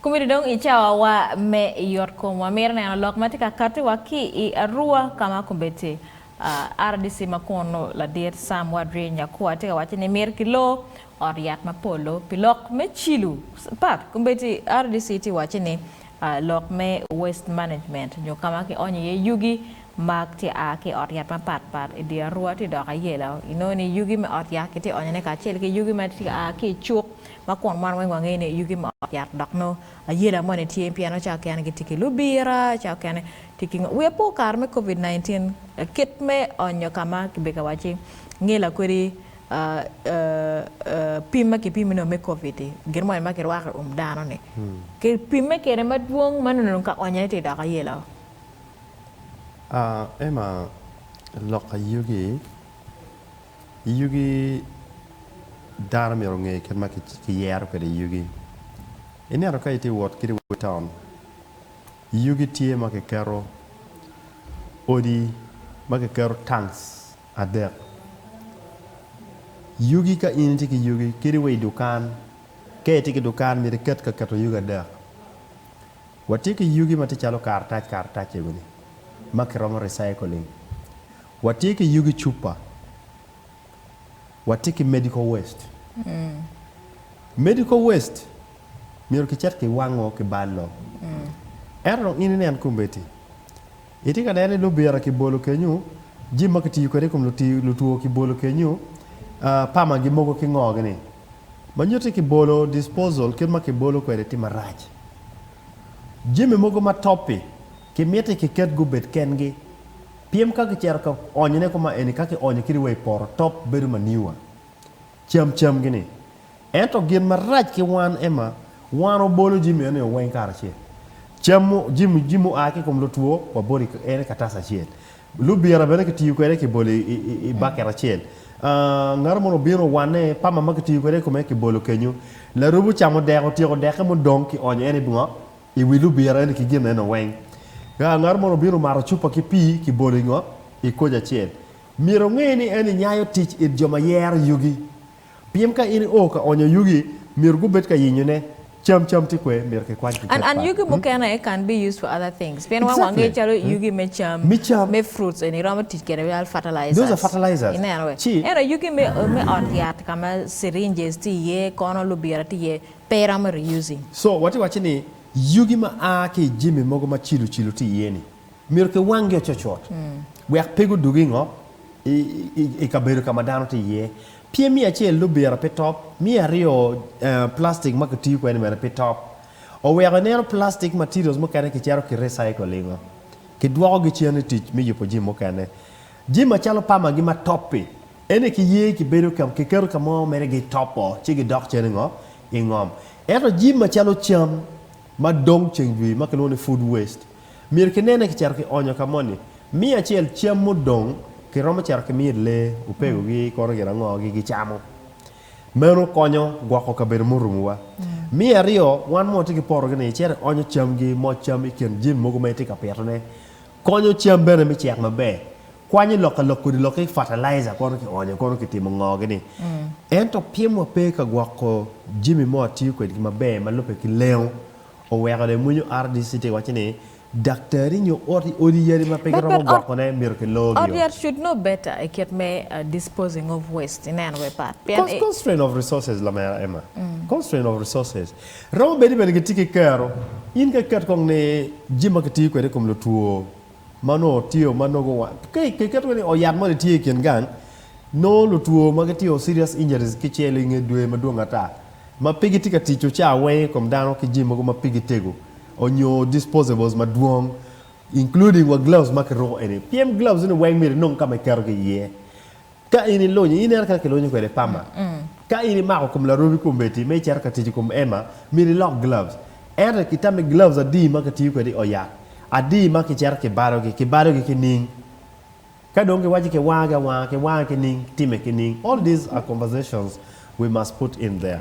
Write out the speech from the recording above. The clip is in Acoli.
Komedo dong i cawawa me yotkom, wamito neno lok ma tye ka kattiwa ki i Arua ka ma kombeddi rdc ma kunnu ladit Sam Wadri Nyakua tye ka wacce ni myero kilor ot yat ma polo pi lok me cilo pat. Kombeddi rdc tye wacce ni lok me waste management nyo ka ma kionyo iye yugi ma tye ka a ki ot yat mapat pat i dye Arua tye dok ayelo. Inongo ni yugi me ot yat kitye ka onyone kacel ki yugi ma tye ka a ki i cuk. ma kun wan weng wangeyo ni yugi me ot yat dok nongo ayela moni tye pien nongo cawa kene gitye ki lubira, cawa mukene tye ki ngo. Wiya pe okato me Covid nineteen, kit me onyo ka ma Kibeke owacci ngila kwedi pim ma kipimi nongo me Covid-di, gin moni ma kirwako i um dano-ni, kipimme kwede madwong ma nongo ka onyone tye ka doko ayela. Emma, Lok ayugi. I yugi, dano myero onge kit ma kiyero kwede yugi. Ineno ka itye wot kit i wor taun, yugi tye ma kiketo odi ma kiketo tanks adek. Yugi ka in itye ki yugi kadi wa i dukan, ka itye ki dukan myero iket ka keto yugi adek. Watye ki yugi ma tye calo karatac karatac eni ma kiromo recycling. Watye ki yugi cupa. Watye ki medical waste. Medical waste myero kicit kiwango ki bal lok. Ento dong in inen kombeddi, itye ka neno ni lubira kibolo kenyu, jami ma kitiyo kwede i kom lutwo kibolo kenyu, pamagi mogo ki ngogini ma nyuto ni kibolo disposal kit ma kibolo kwede tye marac. Jami mogo ma top-pi kimiti kiket gubed kengi Pyem ka kicito ka onyone kuma eni, ka kionyo kidi wa i poto, top bedo ma niwa. Cam camgi-ni. Ento gin marac ki wan ema, wan wabolo jami enonio weng karacel. Cam mu, jami, jami mua ki i kom lutwo, wabolo i en i kataca acel. Lubira bene kitiyo kwede kibolo i, i, i baket acel. Aa, ngato moni obino owanne, pama ma kitiyo kwede i kome kibolo kenyu. Larubo ocamo dek, otyeko deke mudong, kionyo en i ngo? I wi lubira eni ki gin eno weng, ka ngat mo obino mato cupa ki pii ki bolo ingot i koc acel, myero onge ni eni nyayo tic it jo ma yero yugi. Pien ka in i o ka onyo yugi, myero gu bed ka yenyo ne, cam cam ti kwe myero ki kwany ki pat pat. Yugi mukene can be used for other things, pien wa wange calo yugi me cam, me fruits eni romo tic kede calo fertilizers, i neno wee. Eno yugi me ot yat ka ma syringes ti iye, kono lubira ti iye, Pe iromo reusing. So watye wacci ni yugi ma a ki i jami mogo ma cilo cilo tye iye ni myero ki wanggi ococot wek pe gudug ingo i kabedo ka ma dano tye iye. Pyem miya acel lubira pe top, miya aryo plastic ma ki tiyo kwede ni bene pe top. Oweko ineno plastic materials mukene ki cito ki recycle ingo. Ki dwoko gi cen i tic me yubo jami mukene. Jami macalo pamagi ma top-pi, ene ki ye ki bedo ka kiketo ka mo mere gitopo ci gidok cen ingo ingom. Ento jami macalo cam ma dong ceng dwi ma kilwongo ni food waste myero ki nene kiceto ki onyo ka moni. Me acel cam mudong ki romo ceto ki miyo lee opego gi kono gin ango gi gicamo. Meno konyo gwoko kabedo murumu wa. Me aryo wan mo tye ki poro gi ni icito ionyo cam gi moc cam ikin jami mogo ma itye ka pito ne Konyo cam bene me cek maber. Kwanyo lok ka lok kodi lok ki fatalaija kono ki onyo kono ki timo ngo gi ni. Ento pim wa pe ka gwoko jimi mo atiyo kwedgi maber ma lube ki lengo oweko dong iwinyo RDC tye ka waco ni daktari nyo ot i odi yadi ma pe But giromo but ot gwoko ne myero ki lor ot gio. yat should know better i kit me disposing of waste ineno wai pat pien Cause constraint of resources lamera Emma. Constraint of resources. Romo bedi bene gitye ki kero in ka iket kong ni jami ma kitiyo kwede i kom lutwo ma onongo tye o ma nongo wa, ka iketo kong ni o yat moni tye i kin gang, nongo lutwo ma gitye o serious injuries kicelo i nge dwe madwong ata ma pe gitye ka tic o ca weng i kom dano ki jami mogo ma pe gitego onyo disposables madwong including wa gloves ma kiruko eni. Pyem gloves ni weng myero inong ka ma iketo gi iye. Ka in ilonyo, ineno kaka kilonyo kwede pama. Ka in imako kom larobi kombeddi ma icito ka tic i kom ema, myero ilok gloves. Ento itamme gloves adi ma kitiyo kwede i oyak? Adi ma kicito kibalogi? Kibalogi ki ning? Ka dong kiwaco kiwangogi awanga, kiwango ki ning? Timme ki ning? All these are conversations we must put in there.